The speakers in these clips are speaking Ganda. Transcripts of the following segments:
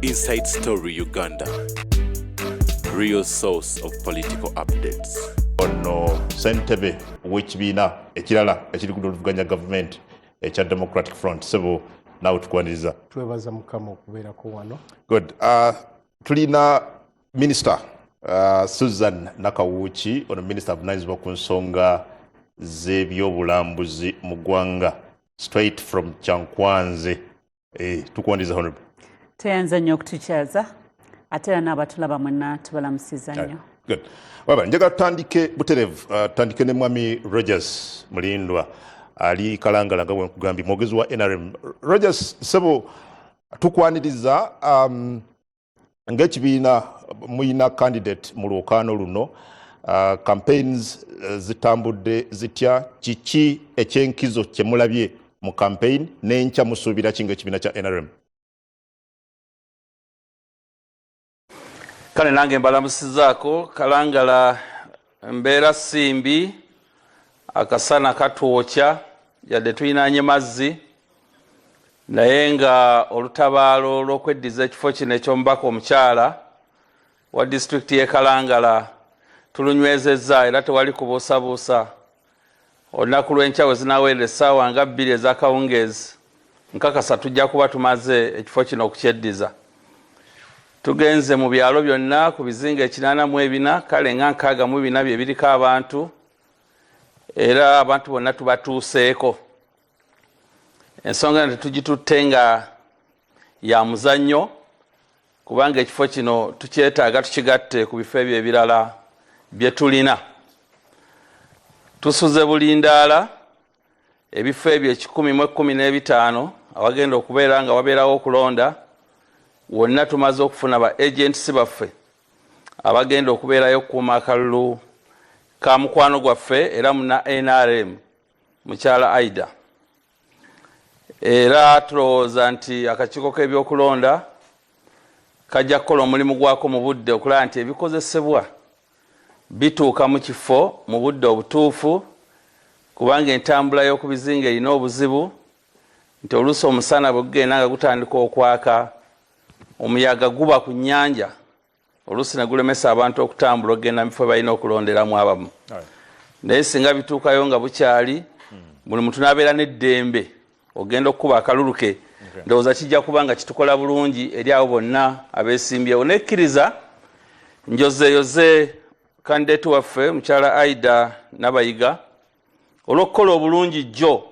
Inside Story Uganda, real source of political updates. Ono sentebe w'ekibiina ekirala ekiri ku luvuganya gavumenti ekya Democratic Front sebo naawe tukwaniriza. Twebaza mukama okubeerako wano. Good. Uh, tulina minisita uh, Susan Nakawuki ono minisita avunanyizibwa ku nsonga z'ebyobulambuzi mu ggwanga straight from Kyankwanzi. Eh, tukuwandiza honorable tweyanza nnyo okutukyaza ate era n'abatulaba mwenna tubalamusiza nnyo Good. Baba, njagala tutandike buterevu uh, tutandike ne mwami rogers mulindwa ali kalangala nga bwenkugambye mwogezi wa nrm rogers sebo tukwaniriza um, ng'ekibiina muyina candidate mu lwokaano luno uh, campaigns uh, zitambudde zitya kiki ekyenkizo kyemulabye mu campaign n'enkya musuubira ki ng'ekibiina kya nrm kale nange mbalamusizaako kalangala embeera simbi akasana katwokya yadde tulinanye mazzi naye nga olutabaalo lwokweddiza ekifo kino ekyomubaka omukyala wa disitulikiti yekalangala tulunywezezza era tewali kubuusabuusa olunaku lw'enkya we zinaweerera essaawa nga bbiri ez'akawungeezi nkakasa tujja kuba tumaze ekifo kino okukyeddiza tugenze mu byalo byonna ku bizinga ekinaana mu ebina kale nga nkaaga mu bina bye biriko abantu era abantu bonna tubatuuseeko ensonga eno tetugitutte nga ya muzannyo kubanga ekifo kino tukyetaaga tukigatte ku bifo ebyo ebirala bye tulina tusuze bulindaala ebifo ebyo ekikumi mu ekkumi n'ebitaano awagenda okubeera nga wabeerawo okulonda wonna tumaze okufuna ba agents baffe abagenda okubeerayo okukuuma akalulu ka mukwano gwaffe era muna nrm mukyala aida era tulowooza nti akakiiko k'ebyokulonda kajja kukola omulimu gwako mu budde okulaba nti ebikozesebwa bituuka mu kifo mu budde obutuufu kubanga entambula y'oku bizinga erina obuzibu nti oluusi omusana bwe gugenda nga gutandika okwaka omuyaga guba ku nnyanja oluusi negulemesa abantu okutambula okugenda mubifo balina okulonderamu abamu naye singa bituukayo nga bukyali hmm. buli muntu nabeera neddembe ogenda okukuba akalulu ke ndowooza kijja kuba nga kitukola bulungi eri abo bonna abesimbyewo nekkiriza njozeeyoze kandidate waffe mukyala aida nabayiga olw'okukola obulungi jjo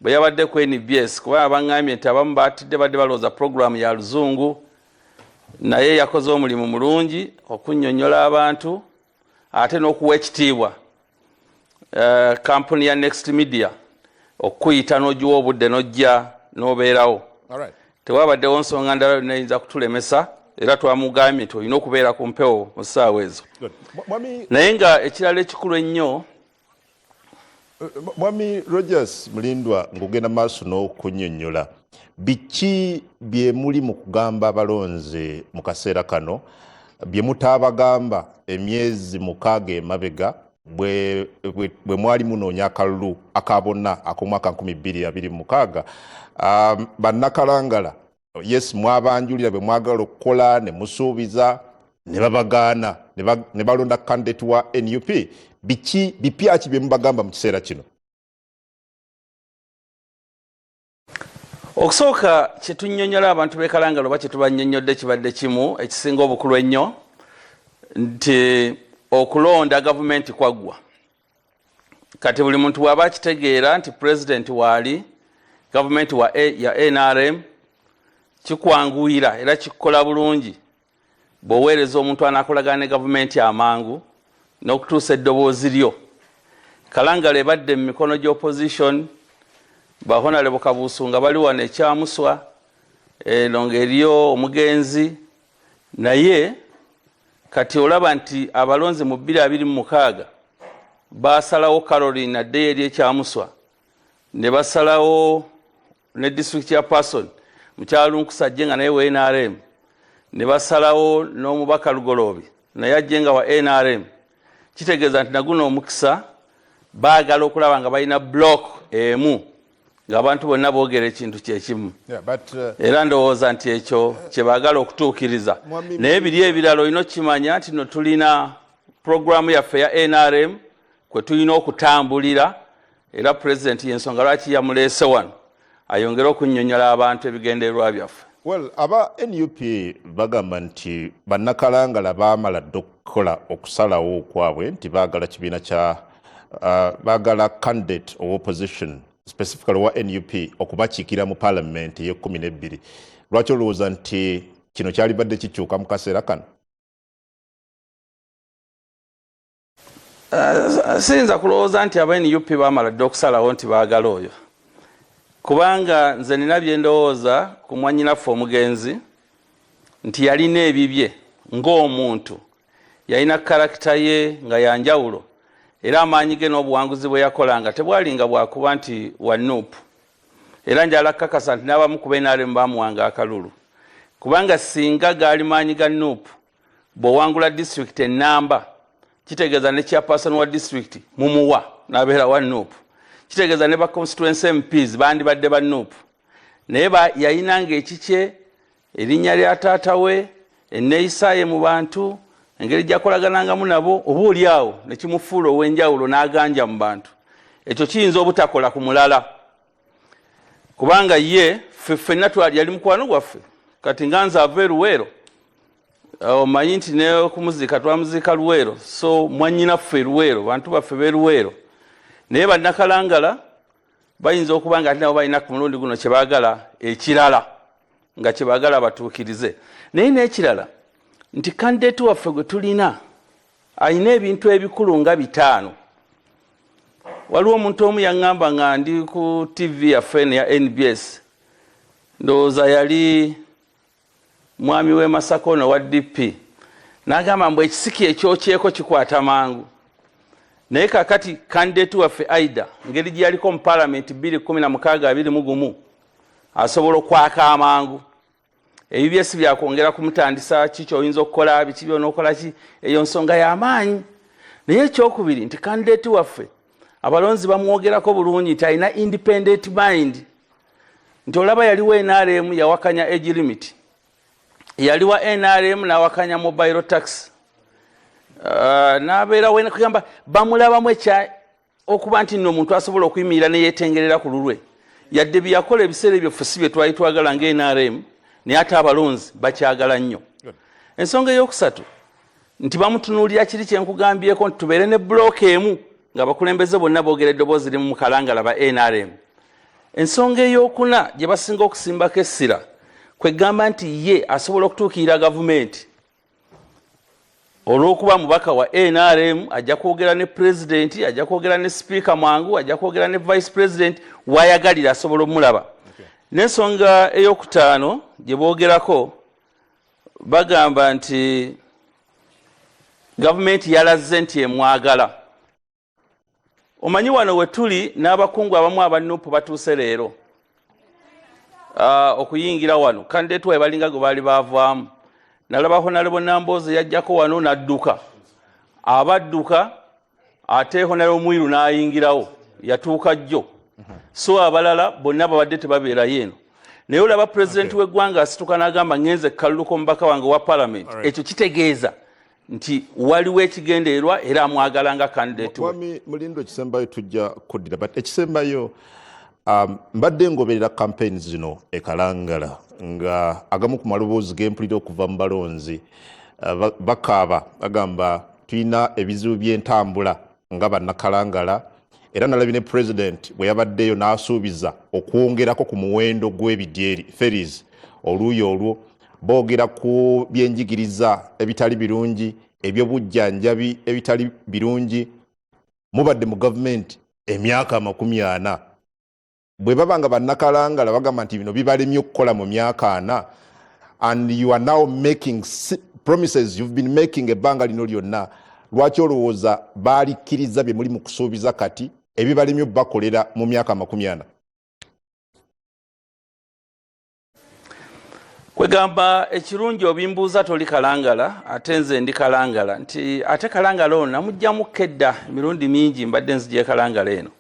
bwe yabadde ku nbs kuba abangambye nti abamu batidde badde balowooza pulogulaamu ya luzungu naye yakoze omulimu mulungi okunyonyola abantu ate n'okuwa ekitiibwa eh, kampuni ya next media okukuyita n'ogiwa obudde n'ojja n'obeerawo tewabaddewo nsonga ndala yonna eyinza kutulemesa era twamugambye nti olina okubeera ku mpewo mu ssaawa ezo naye nga ekirala ekikulu ennyo eh, mwami rogers mulindwa ngaogenda maaso n'okunyonyola biki byemuli mu kugamba abalonzi mu kaseera kano bye mutaabagamba emyezi mukaaga emabega bwe mwali munoonya akalulu aka bonna ak'omwaka 2026 um, bannakalangala yes mwabanjulira bwe mwagala okukola ne musuubiza ne babagaana ne balonda kandidate wa nup biki bipyaki bye mubagamba mu kiseera kino okusooka kyetunyonyola abantu bekalangala oba kyetubanyonyodde kibadde kimu ekisinga obukulu ennyo nti okulonda gavumenti kwaggwa kati buli muntu bwaba akitegeera nti pulezidenti waali gavumenti ya nrm kikwanguyira era kikkola bulungi bw'oweereza omuntu anaakolagana ne gavumenti amangu n'okutuusa eddoboozi lyo kalangala ebadde mu mikono gy'opposition bahonalebo kabuusu nga bali wano ekyamuswa eno ngaeriyo omugenzi naye kati olaba nti abalonzi mu bbiri abiri mu mukaaga baasalawo caroline addeyo eri ekyamuswa ne basalawo ne district ya person mukyalunkusajje nga naye wa nrm ne basalawo n'omubaka lugoloobi naye ajje nga wa nrm kitegeeza nti naguno omukisa baagala okulaba nga balina block emu ng'abantu bonna boogera ekintu kyekimu uh, era ndowooza nti ekyo kyebaagala okutuukiriza naye biri ebirala olina okukimanya nti no tulina pulogulaamu yaffe ya nrm kwe tulina okutambulira era pulezidenti yensonga lwaki yamuleese wano ayongere okunyonyola abantu ebigendererwa byaffe well aba nup bagamba nti banakalangala bamala dda okukola okusalawo okwabwe nti bagala kibiina kya uh, bagala candidate owa opposition specifically owa nup okubakiikira mu palamenti eyekumi nebbiri lwaki olowooza nti kino kyalibadde kikyuka mu kaseera kano uh, siyinza kulowooza nti aba nup bamala dde okusalawo nti baagala oyo kubanga nze nina byendowooza ku mwanyinaffe omugenzi nti yalina ebibye ng'omuntu yalina karakita ye nga yanjawulo era amaanyi ge n'obuwanguzi bwe yakolanga tebwalinga bwakuba nti wa nup era njala kukakasa nti n'abamu ku benaremu bamuwanga akalulu kubanga singa gaali maanyi ga nup bwowangula district enamba kitegeeza ne chairperson wa district mumuwa nabeera wa nup kitegeeza ne ba constituency mps bandibadde ba nup naye yayinanga ekikye erinnya lya taata we enneeyisaaye mu bantu engeri gyakolaganangamu nabo oba oli awo nekimufuula ow'enjawulo n'aganja mu bantu ekyo kiyinza obutakola ku mulala kubanga ye ffenna twali yali mukwano gwaffe kati nga nze ava eruweero omanyi nti nekumuziika twamuziika luweero so mwanyinaffe eruweero bantu baffe beruweero naye banakalangala bayinza okuba nga ati nabo balina ku mulundi guno kyebagala ekirala nga kyebagala batuukirize naye nekirala nti kandidate waffe gwe tulina alina ebintu ebikulu nga bitaano waliwo omuntu omu yaŋŋamba nga ndi ku tv yaffe eno ya nbs ndowooza yali mwami w'e masaka ono wa dp n'agamba mbu ekisiki ekyokyeko kikwata mangu naye kakati kandidati waffe aida ngeri gye yaliko mu palamenti 216 asobola okwaka amangu ebibye si byakwongera kumutandisa ki kyoyinza okukola biki byonaokola ki eyo nsonga yamaanyi naye ekyokubiri nti kandidate waffe abalonzi bamwogerako bulungi nti alina independent mind nti olaba yaliwo nrm yawakanya age limit yaliwa nrm nawakanya mobile tax uh, nabeera wenakugamba bamulabamu ekya okuba nti nno omuntu asobola okuyimirira neyetengerera ku lulwe yadde byeyakola ebiseera ebyo ffe si bye twali twagala nga nrm naye ate abalonzi bakyagala nnyo ensonga eyokusatu nti bamutunuulira kiri kyenkugambyeko nti tubeere ne bulooka emu ngaabakulembeze bonna boogera eddoboozi limu mukalangala ba nrm ensonga eyokuna gye basinga okusimbako essira kwe gamba nti ye asobola okutuukirira gavumenti olwokuba mubaka wa nrm ajja kwogera ne pulezidenti ajja kwogera ne sipiika mwangu ajja kwogera ne vice president wayagalira asobola omulaba nensonga eyokutaano gye boogerako bagamba nti gavumenti yalazze nti emwagala omanyi wano wetuli n'abakungu abamu abanupu batuuse leero ah, okuyingira wano kandetu wae balinga gwe baali baavaamu nalaba honalebo namboozi yajjako wano n'adduka abadduka ate honalebo mwiru n'ayingirawo yatuuka jjo so abalala bonna babadde tebabeerayo eno naye olaba pulezidenti w'eggwanga asituka n'agamba ngenze kaluluka omubaka wange owa palamenti ekyo kitegeeza nti waliwo ekigendererwa era amwagala nga kandidate mwami mulindo ekisembayo tujja kuddira but ekisembayo um, mbadde ngoberera campaign zino ekalangala nga agamu ku maloboozi gempulira okuva mu balonzi uh, bakaaba bagamba tulina ebizibu by'entambula nga bannakalangala era nalabi ne president bwe yabaddeyo n'asuubiza okwongerako ku muwendo gw'ebidyeri feris oluuyi olwo boogera ku byenjigiriza ebitali birungi ebyobujjanjabi ebitali birungi mubadde mu gavumenti emyaka amakumi ana bwe baba nga bannakalangala bagamba nti bino bibalemye okukola mu myaka ana and you are now making promises you've been making ebbanga lino lyonna lwaki olowooza baalikkiriza bye muli mu kusuubiza kati ebibalemye okubakolera mu myaka amakumi ana kwegamba ekirungi obimbuuza toli kalangala ate nze ndi kalangala nti ate kalangala ono namugjamu kedda emirundi mingi mbadde nzija ekalangala eno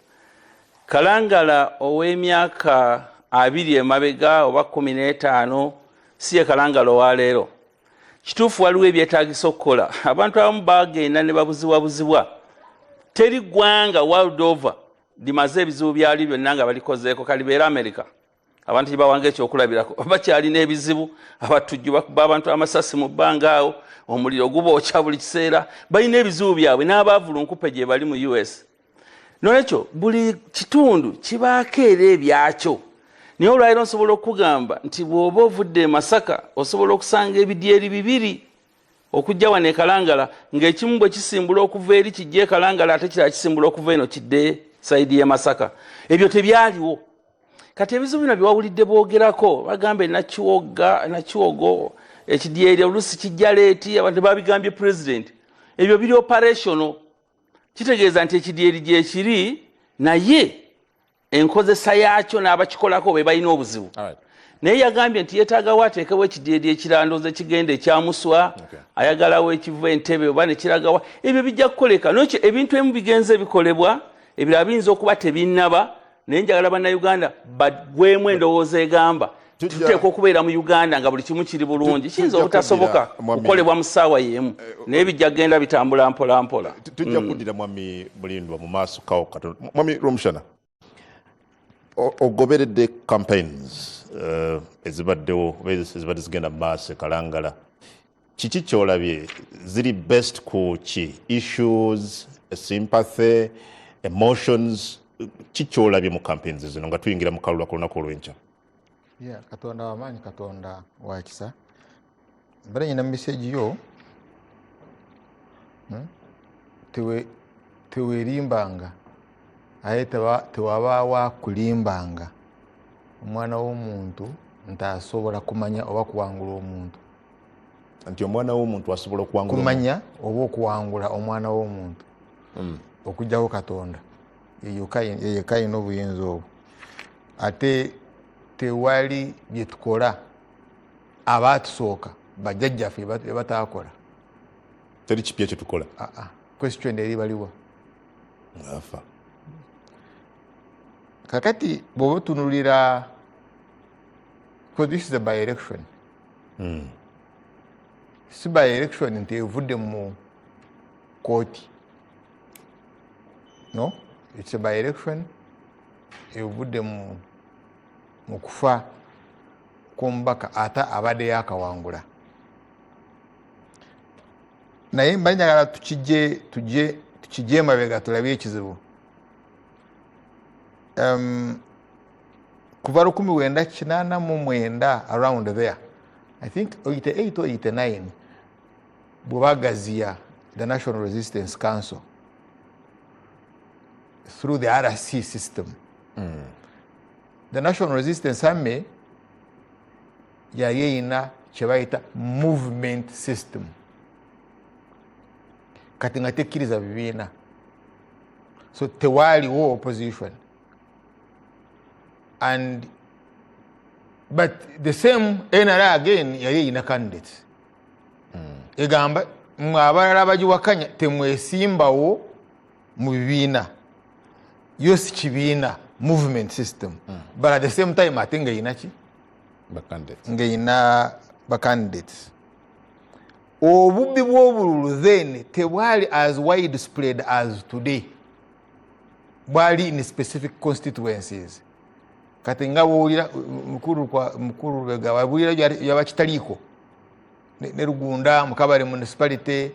kalangala ow'emyaka abiri emabega oba kumi n'etaano si ye kalangala owaleero kituufu waliwo ebyetagisa okukola abantu abamu bagenda ne babuzibwabuzibwa teri ggwanga world over limaze ebizibu byalyo byonna nga balikozeeko kalibeera amerika abantu gyebawanga ekyokulabirako bakyalina ebizibu abatujju bakuba abantu amasasi mu bbanga awo omuliro gubookya buli kiseera balina ebizibu byabwe n'abaavulunkupe gyebali mu us nolwekyo buli kitundu kibaako era ebyakyo naye olwaliro nsobola okukugamba nti bw'oba ovudde emasaka osobola okusanga ebidyeri bibiri okujja wano ekalangala ng'ekimu bwe kisimbula okuva eri kijja ekalangala ate kirala kisimbula okuva eno kidde saidi y'emasaka ebyo tebyaliwo kati ebizibu bino byewawulidde boogerako bagamba enakiwogga enakiwogo ekidyeri olusi kijja leeti abantu babigambye president ebyo biri operational kitegeeza nti ekidyeri gyekiri naye enkozesa yaakyo n'abakikolako be balina obuzibu right. naye yagambye nti yetagawo ateekewo ekidyeri ekirandoza ekigenda ekyamuswa okay. ayagalawo ekiva entebe oba nekiragawa ebyo bijja kukoleka nokyo ebintu emu bigenze bikolebwa ebirala biyinza okuba tebinnaba naye njagala bannayuganda bagwemu endowooza egamba tuteekwa okubeera mu uganda nga buli kimu kiri bulungi kiyinza obutasoboka kukolebwa mu ssaawa yeemu eh, eh, naye bijja kugenda bitambula mpolampola eh, tujja mm. kuddira mwami mulindwa mu maaso kawo katono mwami romushana ogoberedde campaigns ezibaddewo ezibadde zigenda mu maaso ekalangala kiki kyolabye ziri best ku ki issues sympathy emotions ki kyolabye mu campaigns zino nga tuyingira mu kalula ku lunaku olwenkya yeah, katonda wamaanyi katonda wakisa mbera nyina mu miseegi yo hmm? tewerimbanga aye tewabaawo akulimbanga omwana w'omuntu nti asobola kumanya oba kuwangula omuntu nti omwana womuntu asobola okuwangulakumanya oba okuwangula omwana womuntu mm. okujjawo katonda yeyeka yina obuyinza obwo ate tewali byetukola abatusooka bajjajjaffe ebatakola teri kipya kyetukola ah, ah. question eri baliwa afa kakati bwoba otunulira because this is a by election hmm. si by election nti evudde mu kooti no its by election evudde mu mu kufa kw'omubaka ate abadde yakawangula naye mba njagala tukije tuje tukije emabega tulabye ekizibu um, kuva lukumi wenda kinana mu mwenda around there i think 88 or 89 bwebagaziya the national resistance council through the rc system mm. the national resistance army yali eyina kyebayita movement system kati nga tekkiriza bibiina so tewaaliwo opposition and but the same nra again yali eyina candidates mm. egamba mwe abalala abagiwakanya temwesimbawo mu bibiina yo si kibiina movement system mm. but at the same time ate nga eyina ki ng'erina bacandidates obubbi bw'obululu then tebwali as wide spread as today bwali in specific constituencies kati nga bwowulira mukulu lubega wabulira yaba kitaliiko ne lugunda mukabale municipality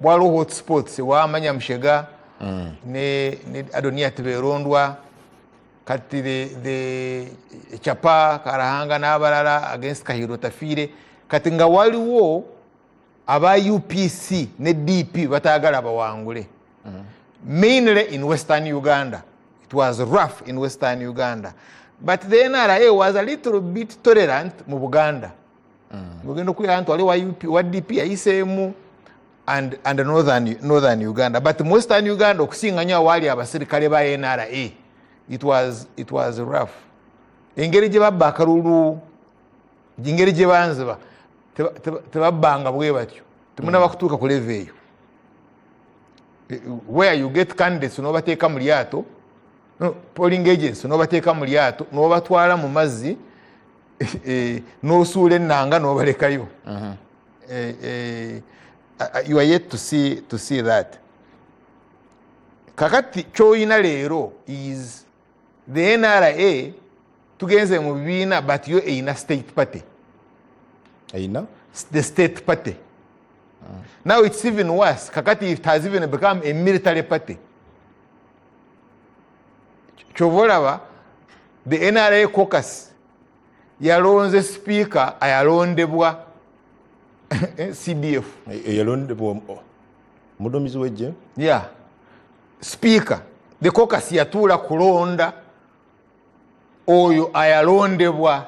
bwaliwo hotspots wamanya mushega mm. ne adonia tiberondwa kati the chapa karahanga n'abalala against kahiro tafiire kati nga waliwo aba upc ne dp batagala bawangule mm. mainly in western uganda it was rough in western uganda but the nra was a little bit tolerant mu buganda ogenda mm. okulira nti wali wa dp yayiseemu and, and northern, northern uganda but mu western uganda okusinga nyo awaali abasirikale ba nra it was, it was rough engeri gye babba akalulu engeri gye banziba tebabbanga bwe batyo temunaba kutuuka ku leve eyo eh, where you get candidates nobateeka mu lyato polling agents nobateeka mu lyato nobatwala mu mazzi eh, eh, nosuula ennanga nobalekayo mhm. you are yet to see, to see that kakati kyoyina leero is the nra tugenze mu bibiina but yo eyina state party eyina the state party mm. now it's even worse kakati it has even become a military party kyova olaba the nra cocus yalonze speaker ayalondebwa cdf eyalondebwa omudumizi wejje ya yeah. sipiika the cocus yatuula kulonda oyo ayalondebwa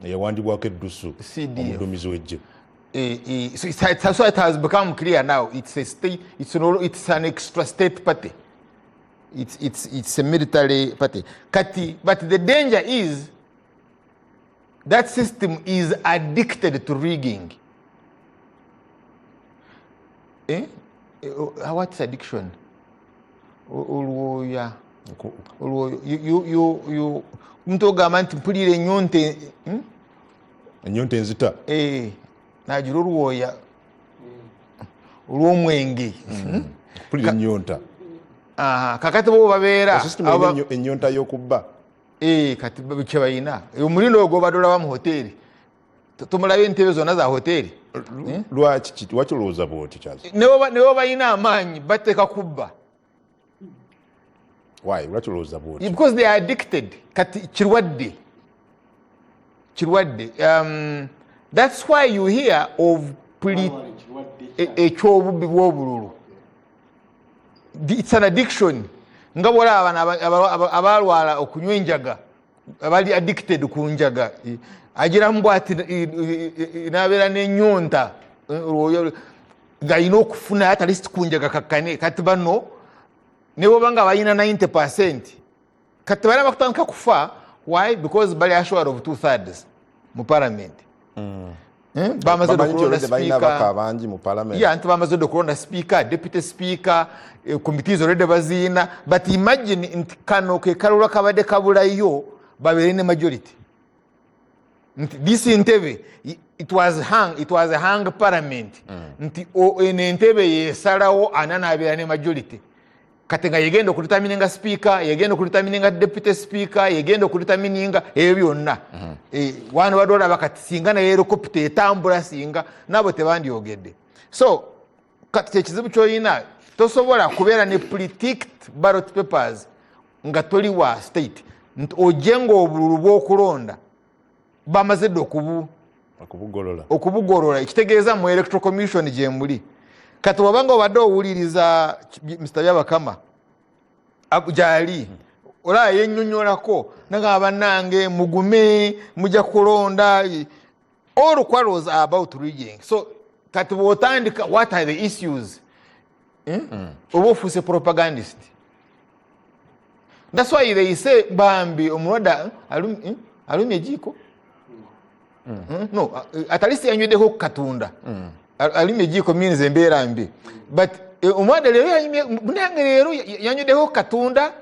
eyawandibwako eddusu omudumizi wejje eh, eh, so it's, it's, so it has become clear now it's a state it's an, it's an extra state party it's, it's, it's a military party kati but the danger is that system is addicted to rigging eh? eh oh, uh, what's addiction olwoya olwoyo you omuntu ogamba nti mpulira enyonta hmm? enyonta enzita eh, nagira olwoya olwomwenge hmm. hmm? mpulira enyonta kakati bo babeera enyonta yokubba Eh, kati kyebalina eh, omulina ogwo obadde olaba mu hoteeri tumulabe entebe zonna za hoteeri eh? lwaki lwaki olowooza bwoti kyazi newe balina amaanyi bateeka kubba why lwaki olowooza bwoti because they are addicted kati kirwadde kirwadde um, that's why you hear of ekyobubi bwobululu its an addiction nga bwolaba bana abalwala okunywa enjaga abali addicted ku njaga agiramu bwati nabeera nenyonta ngayina okufuna atalist kunjaga kakane kati bano nebobanga balina 90 percent kati bali abakutandika kufa why because bali assured of two thirds mu parliament hmm. eh? bamaze nti bamaze dde okulonda sipiika deputy sipiika eh, committees olwedde baziina but imagine nti kano kekalula kabadde kabulayo babeere ne majority nti this ntebe it was hang, it was hang parliament mm. nti eno entebe yesalawo ana nabeera ne majority kati nga yegenda okulitamininga sipiika yegenda okulitamininga deputy sipiika yegenda okulitamininga ebyo byonna mm-hmm. eh, wano badde olaba kati singa naye erokopita etambula singa nabo tebandyogedde so kati kyekizibu kyolina tosobola kubeera ne politik barot papers nga toli wa state nti oje nga obululu bwokulonda bamaze dde okubu okubugolola ekitegeeza mu electro commission gyemuli kati wabanga obadde owuliriza mr byabakama gyali olaba yenyonyolako nagamba banange mugume muja kulonda all quarrels are about rigging so kati bwotandika what are the issues eh? hmm? oba ofuuse propagandist that's why they say bambi omulwadde eh? alumya ejiiko hmm. hmm? no at least yanyweddeko ku katonda alumya ejiiko means embeera mbi but eh, omulwadde leero munange leero yanyweddeko ku katonda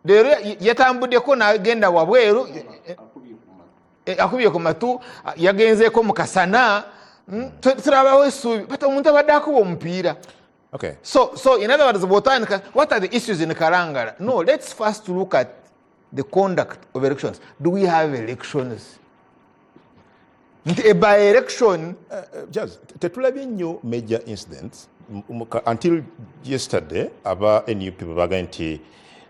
leero yatambudeko nagenda wabweru akubye ku matu eh, eh, yagenzeko mukasana hmm, turabawo esuubi but omuntu abadde akuba omupiira Okay. So, so in other words, Botanica, what are the issues in Karangara? No, let's first look at the conduct of elections. Do we have elections? nti e by election eh, eh, jaz tetulabye nnyo major incidents until yesterday aba nup bebaga nti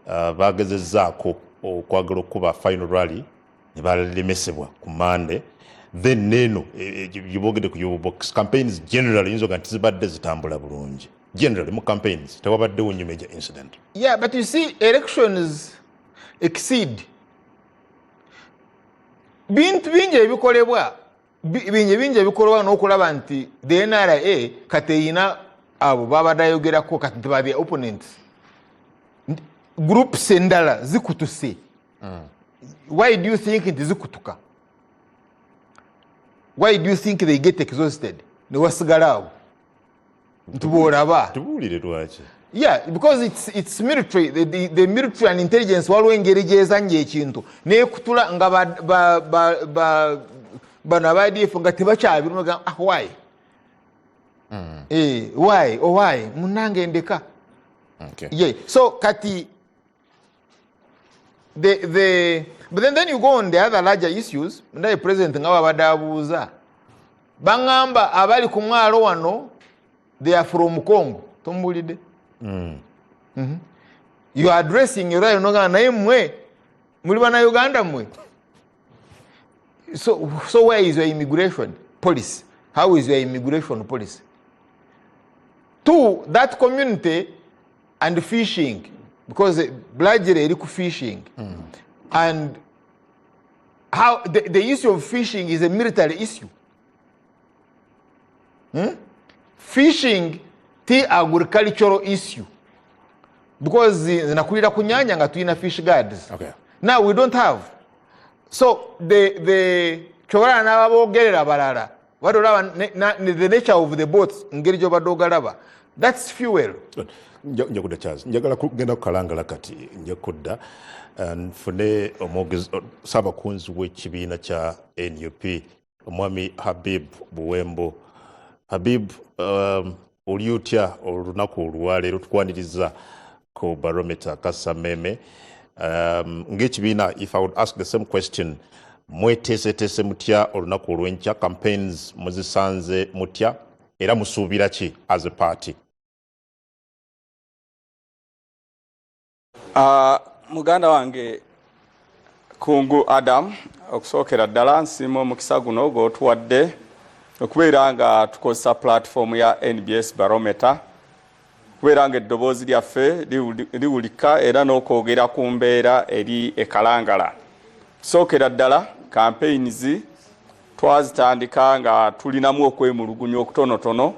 uh, bagezezaako okwagala okukuba final rally ne balemesebwa ku mande then neeno e, e, gyebogede ku yobox campaigns generally yinza oga nti zibadde zitambula bulungi generally mu campaigns tewabaddewo nnyo major incident yeah but you see elections exceed bintu bingi ebikolebwa bingi bingi ebikolebwa n'okulaba nti the nra kati eyina abo babadde ayogerako kati nti ba the opponents groups endala zikutuse mm. why do you think nti zikutuka why do you think they get exhausted newasigala awo nti bwolaba tubuulire lwaki yeah because it's, it's military the, the, the military and intelligence waliwo engeri gyezanya ekintu nekutula nga bano abadf nga tebakyabirumga ah why mm. eh, why owhy oh, munange ndeka okay. yeah. so kati the, the, but then, then you go on the other larger issues ndaye president nga babadde abuuza baŋamba abali ku mwalo wano they are from congo tomubuulidde mm. mm -hmm. you are addressing urayo nogamba naye mwe muli bana uganda mwe so, so where is your immigration policy how is your immigration policy two that community and fishing because blajira eri ku fishing mm. and how the, the issue of fishing is a military issue hmm? fishing ti agricultural issue because zinakulira ku nyanya nga tulina fish guards okay. now we don't have so the, the kyobalala n'ababogerera balala obadde olaba the nature of the boats ngeri gyobadde ogalaba thats fuel nja kudda charles njagala kugenda kukalangala kati nja kudda eh, nfune omwogezi oh, saabakunzi w'ekibiina kya nup omwami habib buwembo habib um, oli otya olunaku olwaleero tukwaniriza ku barometer kasameme um, ngaekibiina if i would ask the same question mweteeseteese mutya olunaku olwenkya campaigns muzisanze mutya era musuubira ki as a party Uh, muganda wange kungu adam okusookera ddala nsiima omukisa guno gwotuwadde okubeera nga tukozesa pulatifomu ya nbs barometa okubeera nga eddoboozi lyaffe liwulika era n'okwogera ku mbeera eri ekalangala tusookera ddala kampeyinizi Twazitandika nga tulinamu okwemulugunya okutonotono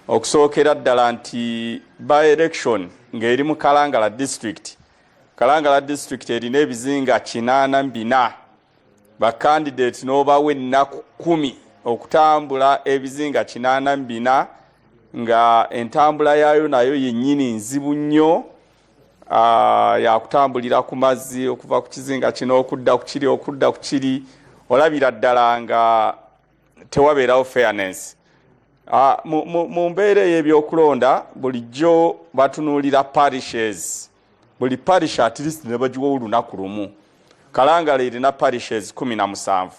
okusookera ddala nti by election ng'eri mu Kalangala district. Kalangala district erina ebizinga kinaana bina bakandidate n'obawo ennaku kumi okutambula ebizinga kinaana bina nga entambula yaayo nayo yennyini nzibu nnyo. Ah, yakutambulira ku mazzi okuva ku kizinga kino okudda ku kiri okudda ku kiri olabira ddala nga tewabeerawo fairness ah, mu mbeera ey'ebyokulonda bulijjo batunuulira parishes buli parish at least nebagiwawo olunaku lumu kalangala erina parishes kumi na musanvu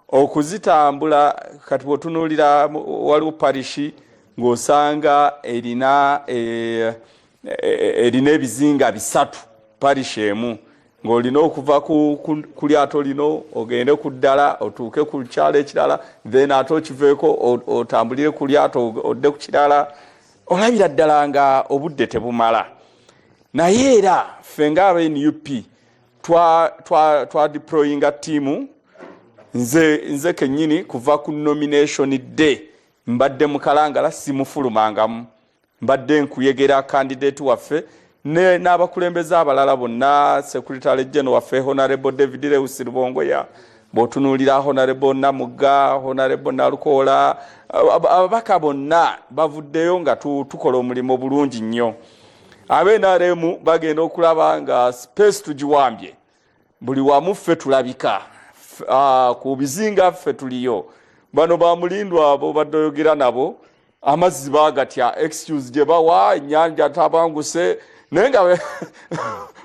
okuzitambula kati bwotunulira waliwo parishi ng'osanga erina e, e, erina ebizinga bisatu parishi emu ng'olina okuva ku lyato lino ogende ku ddala otuuke ku kyalo ekirala then ate okiveeko otambulire ku lyato odde ku kirala olabira ddala nga obudde tebumala naye era ffe ng'aba nup twa, twa, twa deployinga tiimu nze, nze kenyini kuva ku nomination day mbadde mukalangala simufulumangamu mbadde nkuyegera kandidate waffe n'abakulembeze abalala bonna secretary general waffe honorable david lewis lubongoya bwotunuulira honorable namugga honorable nalukoola ababaka bonna bavuddeyo nga tukola omulimu bulungi nnyo abe nrm bagenda okulaba nga space tugiwambye buli wamu ffe tulabika ah, ku bizinga ffe tuliyo bano bamulindwa abo badoyogera nabo amazzi bagatya excuse gye bawa enyanja tabanguse naye nga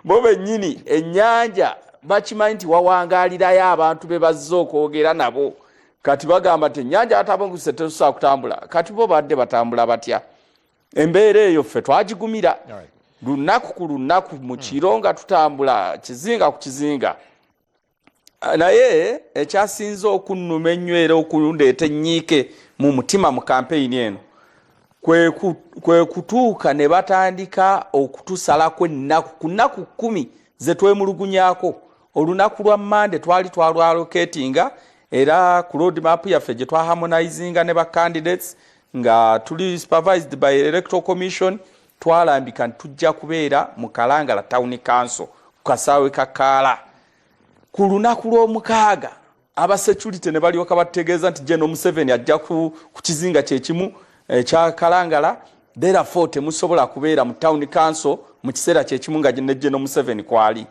bo bennyini enyanja bakimanyi nti wawangalirayo abantu be bazze okwogera nabo kati bagamba nti enyanja atabanguse tetusobola kutambula kati bo badde batambula batya embeera eyo ffe twagigumira lunaku ku lunaku mu kiro nga tutambula kizinga ku kizinga naye ekyasinze okunnuma ennyo era okundeeta ennyiike mu mutima mu kampeyini eno kwe kutuuka ne batandika okutusalako ennaku ku nnaku kkumi ze twemulugunyako olunaku lwa mande twali twalwaloketinga era ku road map yaffe gye twaharmonizinga ne ba candidates nga tuli supervised by electoral commission twalambika nti tujja kubeera mu kalangala town council ku kasaawe ka kaala ku lunaku lw'omukaaga abasecurity ne balyoka batutegeeza nti jeno museveni ajja ku kizinga kyekimu ekya eh, kalangala therefore temusobola kubeera mu town council mu kiseera kyekimu nga ne jeno museveni kwali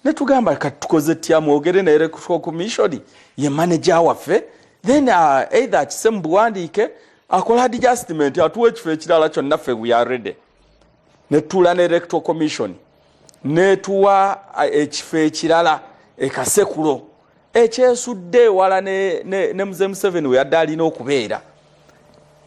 netugamba kati tukoze tya mwogere ne electoral commission ye manager waffe then uh, either akise mu buwandiike akola adjustment atuwa ekifo ekirala kyonna ffe we are ready netuula ne electoral commission netuwa uh, ekifo ekirala ekasekulo ekyesudde ewala ne, ne, ne mzee museveni weyadde alina okubeera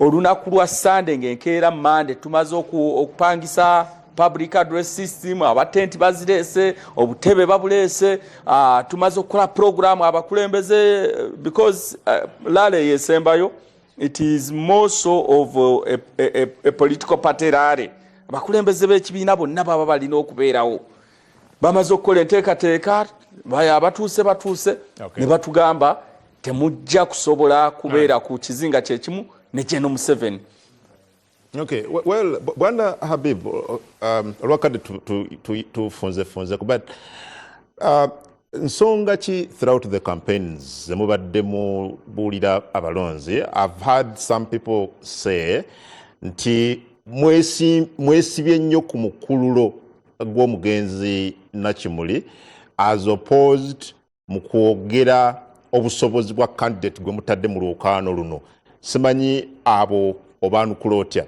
olunaku lwa sande ngaenkeera mande tumaze okupangisa public address system abatenti bazireese obutebe babuleese uh, tumaze okukola programu abakulembeze because uh, ah, lale yesembayo it is more so of uh, a, a, a, a political party lale abakulembeze b'ekibiina bonna baba balina okubeerawo bamaze okukola enteekateeka abatuuse batuuse ne batugamba temujja kusobola kubeera ku kizinga kyekimu ne geno museveni Okay. Well, Bwana Habib, um, olwakadde tufunzefunze kuba uh, nsonga ki throughout the campaigns zemubadde mubuulira abalonzi i've heard some people say nti mwesibye nnyo ku mukululo gw'omugenzi Nakimuli as opposed mu kwogera obusobozi bwa candidate gwe mutadde mu lwokaano luno simanyi abo obaanukula otya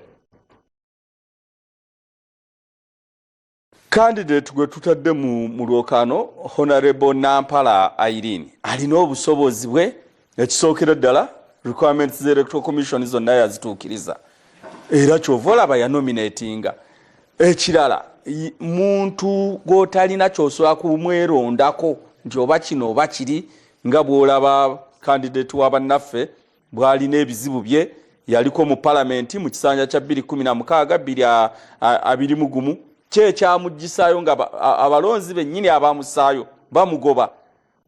candidate gwe tutadde mu lwokaano honorable nampala irene alina obusobozi bwe ekisookera ddala requirements za electoral commission zonna yazituukiriza era kyova olaba yanominatinga ekirala muntu gwotalina kyosobola kumwerondako nti oba kino oba kiri nga bwolaba kandidate wa bannaffe bwalina ebizibu bye yaliko mu palamenti mu kisanja kya 21621 kyekyamugisayo nga abalonzi bennyini abamusaayo bamugoba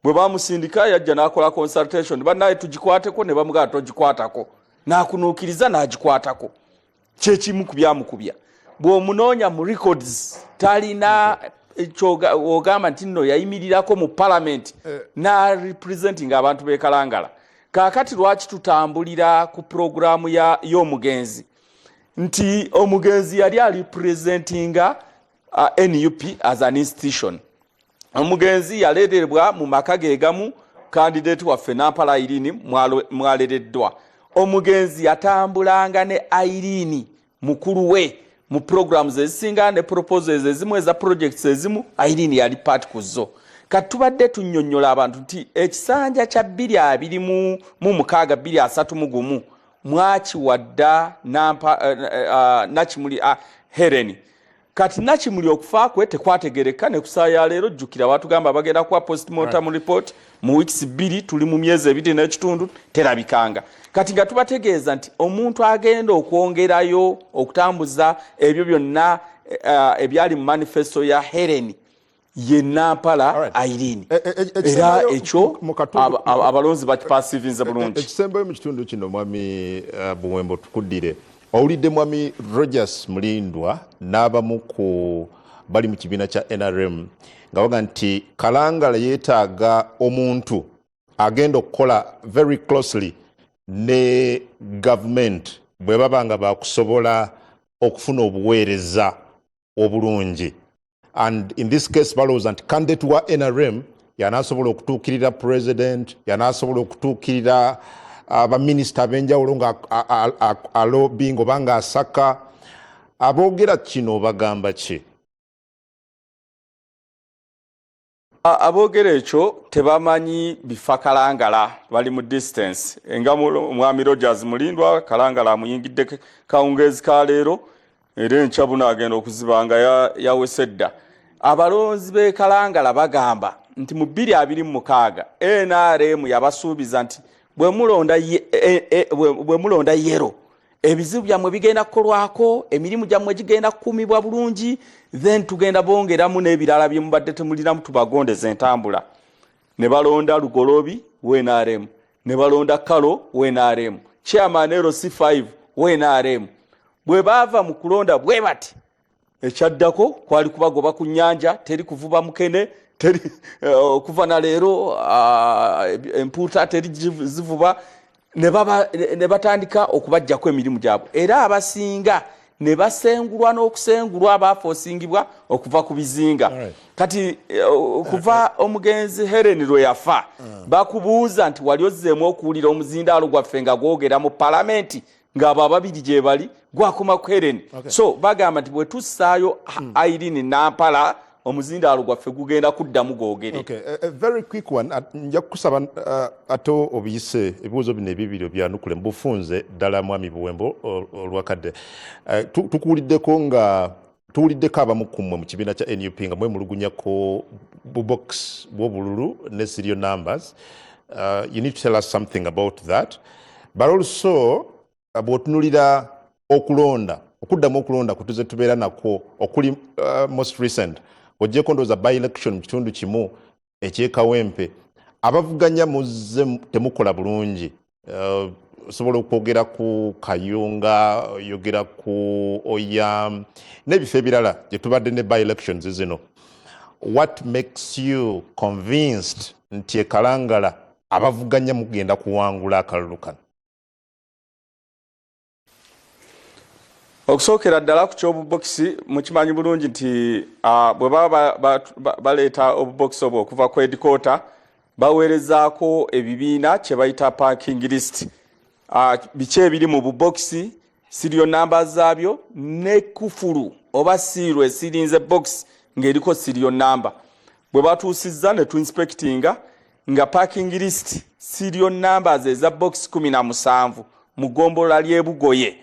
bwe bamusindika yajja n'akola consultation banaye tugikwateko ne bamugaa togikwatako n'akunuukiriza n'agikwatako kyekimu ku byamukubya bw'omunoonya mu records talina ogamba nti nno yayimirirako mu palamenti eh. na representing abantu bekalangala kakati lwaki tutambulira ku puroguramu y'omugenzi nti omugenzi yali alipresentinga uh, nup as an institution omugenzi yaleeterebwa mu maka ge gamu kandideeti waffe nampala ayirini mwalereddwa omugenzi yatambulanga ne ayirini mukulu we mu programs ezisinga ne proposals ezimu eza projects ezimu ayirini yali paati ku zo kati tubadde tunnyonnyola abantu nti ekisanja kya bbiri abiri mu mukaaga bbiri asatu mu gumu mwakiwadda eh, eh, ah, nakimuli ah, hereni kati nakimuli okufa kwe tekwategereka nekusaa yaleero jjukira batugamba bagenda kuwa postmortem report mu weeks bbiri tuli mu myezi ebiri n'ekitundu terabikanga kati nga tubategeeza nti omuntu agenda okwongerayo okutambuza ebyo byonna uh, ebyali mu manifesto ya hereni ye nampala irene e, e, e, era ekyo abalonzi bakipasivinze bulungi ekisembayo mu kitundu kino mwami eh, buwembo tukuddire owulidde mwami rogers mulindwa n'abamu ku bali mu kibiina kya nrm nga baga nti kalangala yeetaaga omuntu agenda okukola very closely ne gavumenti bwe baba nga bakusobola okufuna obuweereza obulungi and in this case balowooza nti candidate wa nrm yanasobola okutuukirira president yanasobola okutuukirira uh, baminisita ab'enjawulo nga alobing oba nga asaka aboogera kino bagamba ki aboogera ekyo tebamanyi bifa kalangala bali mu distance nga omwami rogers mulindwa kalangala amuyingidde kawungeezi ka leero era enkya buno agenda okuziba nga yawese dda abalonzi bekalangala bagamba nti mu bbiri abiri mu mukaaga nrm yabasuubiza nti bwemulonda e, e, yero ebizibu byammwe bigenda kukolwako emirimu gyammwe gigenda kukuumibwa bulungi then tugenda bongeramu n'ebirala bye mubadde temulinamu tubagondeza entambula ne balonda lugolobi wnrm ne balonda kalo wnrm chairman lc 5 wnrm bwe baava mu kulonda bwe bati ekyaddako kwali kubagoba ku nyanja teri kuvuba mukene teri eh, okuva na leero ah, empuuta teri zivuba ne batandika okubajjako emirimu gyabwe era abasinga ne basengulwa n'okusengulwa abaafa osingibwa okuva ku bizinga kati eh, kuva omugenzi helen lwe yafa ah. bakubuuza nti wali ozzeemu okuwulira omuzindaalo gwaffe nga gwogera mu palamenti ngaabo ababiri gyebali gwakoma ku eren okay. so bagamba nti bwetussaayo mm. irene nampala omuzindaalo gwaffe gugenda kuddamu gwogere okay. a, a very quick one nja kukusaba uh, ate obiyise ebibuuzo bino ebibiri obyanukule mubufunze ddala mwami buwembo olwakadde uh, tukuwuliddeko nga tuwuliddeko abamu ku mmwe mu kibiina kya nup nga mwemulugunyako bubox bwobululu ne serial numbers uh, you need to tell us something about that but also uh, bwotunulira okulonda okuddamu okulonda kutuze tubeera nakwo okuli uh, most recent ojjeko ndowooza by election mu kitundu kimu ekyekawempe abavuganya muzze temukola bulungi eh, osobola okwogera ku kayunga oyogera ku oyam n'ebifo ebirala gye tubadde ne by elections zino what makes you convinced nti ekalangala abavuganya mugenda kuwangula akalulu kano okusookera ddala ku ky'obubokisi mukimanyi bulungi nti bwe baba baleeta obubokisi obwo okuva ku edikoota baweerezaako ebibiina kye bayita parking list biki ebiri mu bubokisi siriyo namba zaabyo ne kufulu oba siiru esirinze bokisi ng'eriko siriyo namba bwe batuusizza ne tuinspekitinga nga parking list serial numbers eza box 17 mu gombolola ly'ebugoye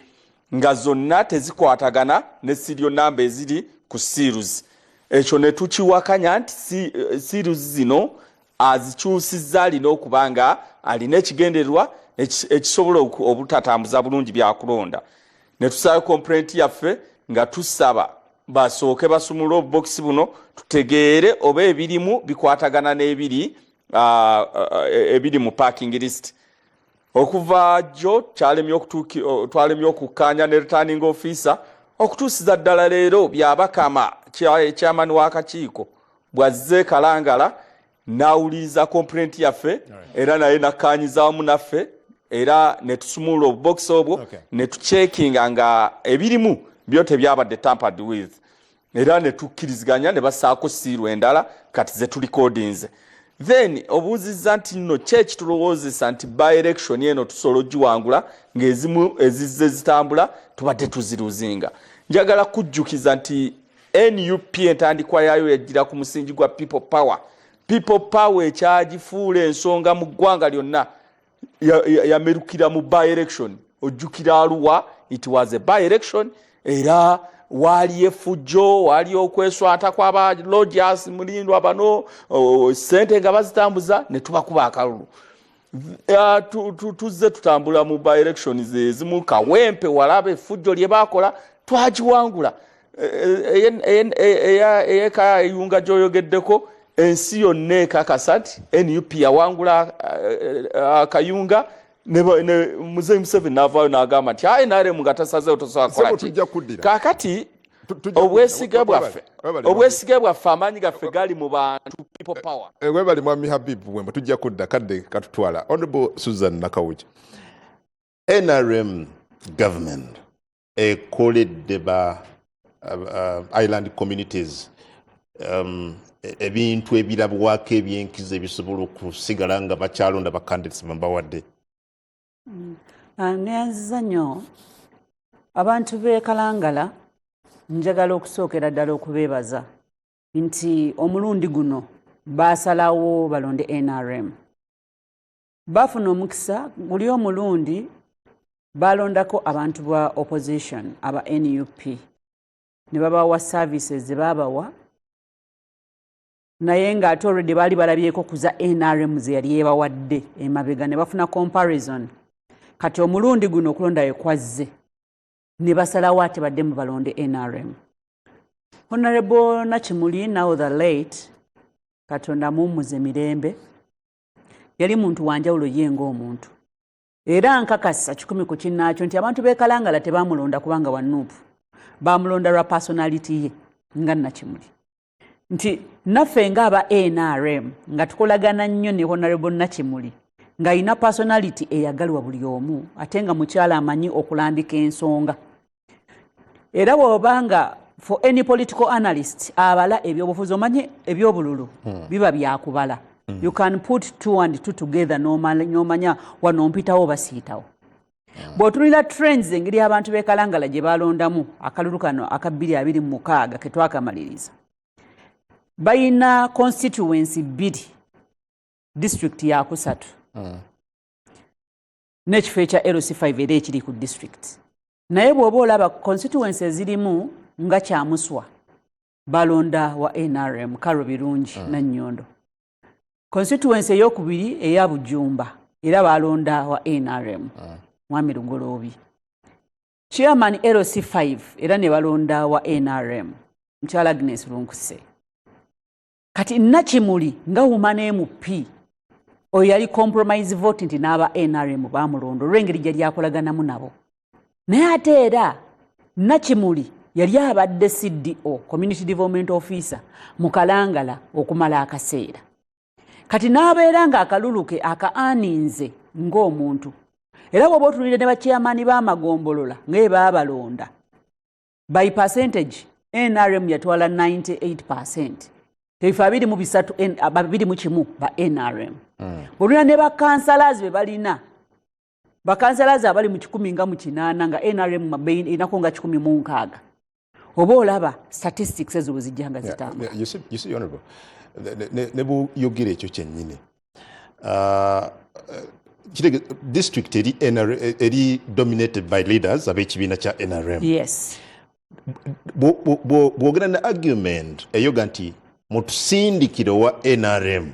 nga zonna tezikwatagana ne serial namba eziri ku seals ekyo ne tukiwakanya nti eh, seals zino azikyusizza alina okuba nga alina ekigendererwa ekisobola obutatambuza bulungi byakulonda ne tusaba komplenti yaffe nga tusaba basooke basumulule obubokisi buno tutegeere oba ebirimu bikwatagana n'ebiri uh, uh, ebiri mu parking list okuva jjo twalemye okukkaanya ne returning officer okutuusiza ddala leero byabakama chairman w'akakiiko bwazze kalangala n'awuliriza kompulenti yaffe era naye nakkaanyiza wamu naffe era ne tusumulula obubokisi obwo ne tucekinga nga ebirimu byo tebyabadde tampered with era ne tukkiriziganya ne basaako siiru endala kati ze tulikodinze then obuuzizza nti nno ki ekitulowoozesa nti by election eno tusobola ogiwangula ng'ezimu ezizze zitambula tubadde tuziruzinga njagala kujjukiza nti nup entandikwa yaayo yajjira ku musingi gwa people power people power ekyagifuula ensonga mu ggwanga lyonna yamerukira mu by election ojjukira aluwa it was a by election era waali efujjo waali okweswata kwaba logias mulindwa bano sente nga bazitambuza netubakuba akalulu Ah, tuzze tutambula mu by elections ezimu kawempe walaba effujjo lye baakola twagiwangula eh, eh, eh, eyeka eyunga gyoyogeddeko ensi yonna ekakasa nti nup yawangula akayunga muzeyi museveni navaayo nagamba nti ayi nrm nga tasazewo tosobola kolaki kakati obwesiga bwaffe obwesiga bwaffe amaanyi gaffe gali mu bantu people power eh, eh, webali mwami habibu wemba tujja kudda kadde katutwala honorable susan nakawuki nrm government ekoledde ba uh, island communities um, e, ebintu ebirabwako ebyenkizo ebisobola okusigala nga bakyalonda bakandidates bambawadde mm. ah, neyanziza nnyo abantu bekalangala njagala okusookera ddala okubeebaza nti omulundi guno baasalawo balonde nrm baafuna omukisa guli omulundi baalondako abantu ba opposition aba nup ne babawa services ze baabawa naye nga ate already baali balabyeko kuza nrm zeyali yebawadde emabega ne bafuna comparison kati omulundi guno okulonda ekwazze ne basalawo ate badde mu balonde nrm honorable nakimuli now the late katonda mummuze mirembe yali muntu wanjawulo ye ngaomuntu era nkakasa kikumi ku kinnaakyo nti abantu bekalangala tebamulonda kubanga wa nuupu bamulonda lwa personality ye nga nakimuli nti naffe nga aba nrm nga tukolagana nnyo ne honorable nakimuli ng'alina personality eyagalwa buli omu ate nga mukyala amanyi okulambika ensonga era bwoba nga for any political analyst abala ebyobufuzi omanye ebyobululu hmm. biba byakubala hmm. you can put two and two together nomanya wano mpitawo basiitawo hmm. bwotunira trends engeri abantu bekalangala gye balondamu akalulu kano aka bbiri abiri mumukaaga ketwakamaliriza balina constituency bbiri district yakusatu n'ekifo ekya lc5 era ekiri ku district naye bw'oba olaba constituency ezirimu nga kyamuswa balonda wa nrm karo birungi mm. nannyondo constituency eyokubiri eya bujumba era balonda wa nrm mm. mwami lugoloobi chairman lc5 era ne balonda wa nrm mukyala agnes lunkuse kati nakimuli nga wuma nemup oyo yali compromise vote nti n'aba nrm bamulonda olw'engeri gye lyakolaganamu nabo naye ate era nakimuli yali abadde cdo community development officer mu kalangala okumala akaseera kati n'abeera nga akaluluke aka aninze ng'omuntu era woba otunulire ne bakyeyamaani b'amagombolola ngaye baabalonda by percentage nrm yatwala 98 percent ebifa abiri mu bisatu babiri mu kimu ba nrm hmm. olina ne bakansalazi be balina bakansalazi abali mu kikumi nga mu kinaana nga nrm enako nga kikumi mu nkaaga oba olaba statistics ezo bwe zijja nga zitamba ne buyogera ekyo kyennyini uh, district eri, eri dominated by leaders ab'ekibiina kya nrm yes. bwogera ne argument eyoga nti mutusindikire owa nrm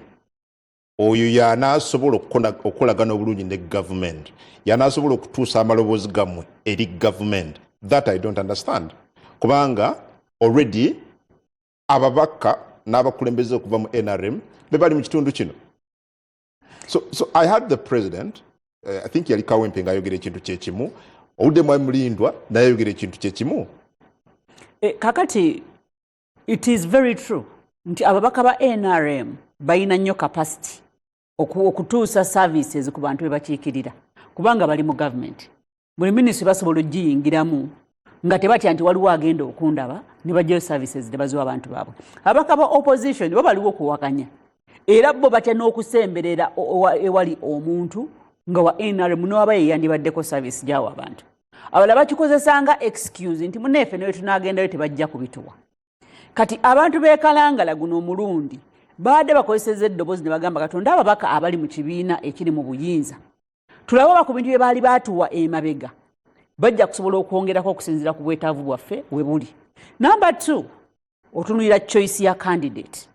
oyo yanaasobola okukolagana obulungi ne government yanaasobola okutuusa amaloboozi gammwe eri government that i don't understand kubanga already ababaka n'abakulembeze okuva mu nrm be bali mu kitundu kino so, so i had the president uh, i think yali kawempe nga ayogera ekintu kyekimu obudde mwali mulindwa naye ayogera ekintu kyekimu eh, kakati it is very true nti ababaka ba nrm balina nnyo capacity okutuusa services ku bantu bebakiikirira kubanga bali mu government buli ministry basobola okugiyingiramu nga tebatya nti waliwo agenda okundaba ne bajjayo services tebaziwa abantu baabwe abaka ba opposition bo baliwo okuwakanya era bo batya n'okusemberera ewali omuntu nga wa nrm nowaba yeyandibaddeko service gyawo abantu abala bakikozesanga excuse nti muneefe newe tunagendayo tebajja kubituwa kati abantu bekalangala guno omulundi baadde bakozeseza eddoboozi ne bagamba katonda ababaka abali mu kibiina ekiri mu buyinza tulabe oba ku bintu bye baali baatuwa emabega bajja kusobola okwongerako okusinziira ku bwetaavu bwaffe we buli namba t otunulira choice ya candidate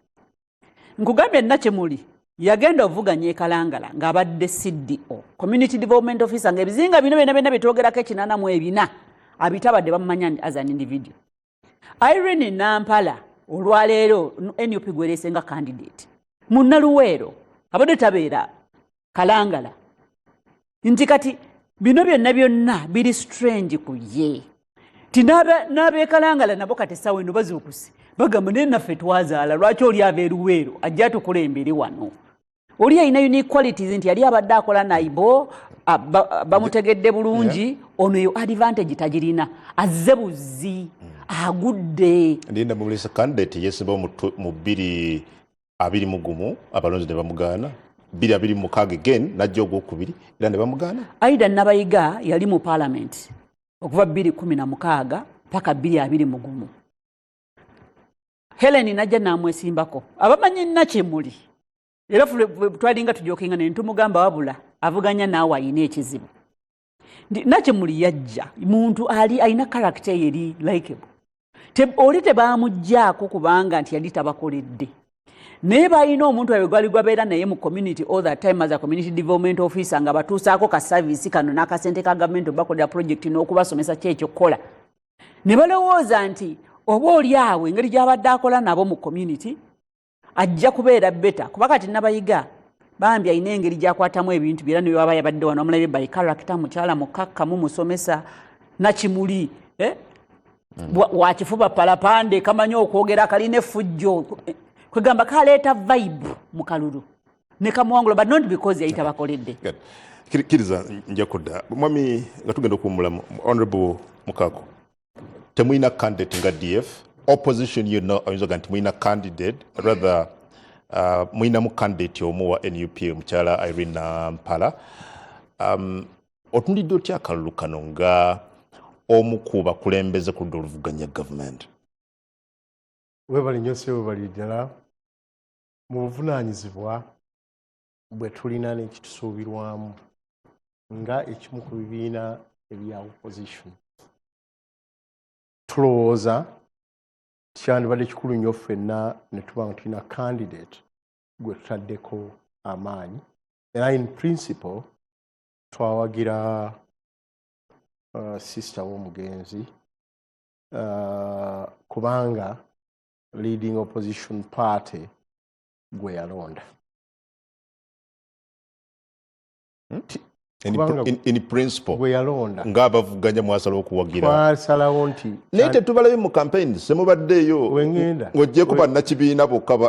nkugambye nna kye muli yagenda ovuganya ekalangala ng'abadde cdo community development officer ngaebizinga bino byona byona byetwogerako ekinana mu ebina abitabadde bamumanya as an individual Irene Nampala olwaleero nup gwerese nga candidate munnaluweero abadde tabeera kalangala nti kati bino byonna byonna biri strange ku ye ti n'abeekalangala nabo kati essaawa eno bazuukuse bagamba naye naffe twazaala lwaki oli ava eruweero ajja tukulembere wano oli yalina unique qualities nti yali abadde akola naibo bamutegedde bulungi ono eyo advantage tagirina azze buzzi agudde ndinda mumulisa candidate yesiba mu bbiri abiri mugumu abalonzi ne bamugaana bbiri abiri mukaaga again najja ogwokubiri era ne bamugaana aida nabayiga yali mu palamenti okuva bbiri kumi na mukaaga paka bbiri abiri mugumu heleni najja namwesimbako abamanyi nna kyemuli era twalinga tujokinga naye ntumugamba wabula avuganya naawe ayina ekizibu nti nakyemuli yajja muntu ali alina karakita eyo eri likeable oli tebamugjaako kubanga nti yali tabakoledde naye balina omuntu awe gwali gwabeera naye mu community all the time as a community development officer nga batuusaako ka service kano n'akasente ka gavumenti obakolera project n'okubasomesa ki ekyokukola ne balowooza nti oba oli awo engeri gy'abadde akola nabo mu community ajja kubeera beta kuba kati nabayiga bambi alina engeri gyakwatamu ebintu byera newaba yabadde wano omulabe by character mukyala mukakkamu musomesa nakimuli eh? mm. wakifuba palapande kamanyi okwogera kalina efujjo kwegamba kaleeta vibe mu kalulu nekamuwangula but not because yali tabakoledde kiriza nja kudda mwami nga tugenda okuwumulamu honorable mukako temulina candidate nga df opposition yonna oyinza oga nti mulina candidate rather uh, mulinamu candidate omu wa nup omukyala irene mpala um, otunulidde otya akalulu kano nga omu ku bakulembeze ku ludda oluvuganya gavumenti webali nyo sebo bali ddala mu buvunaanyizibwa bwe tulina n'ekitusuubirwamu nga ekimu ku bibiina ebya opposition tulowooza kyandibadde kikulu nnyo ffenna ne tuba nga tulina candidate gwe tutaddeko amaanyi era in principle twawagira uh, sister w'omugenzi uh, kubanga leading opposition party gwe yalonda hmm? gweyalonda ngaabavuganya mwasala okuwagirasalawo nti naye tetubalabe mu campaign semubaddeeyo ng'ogyeko bannakibiina bokka ba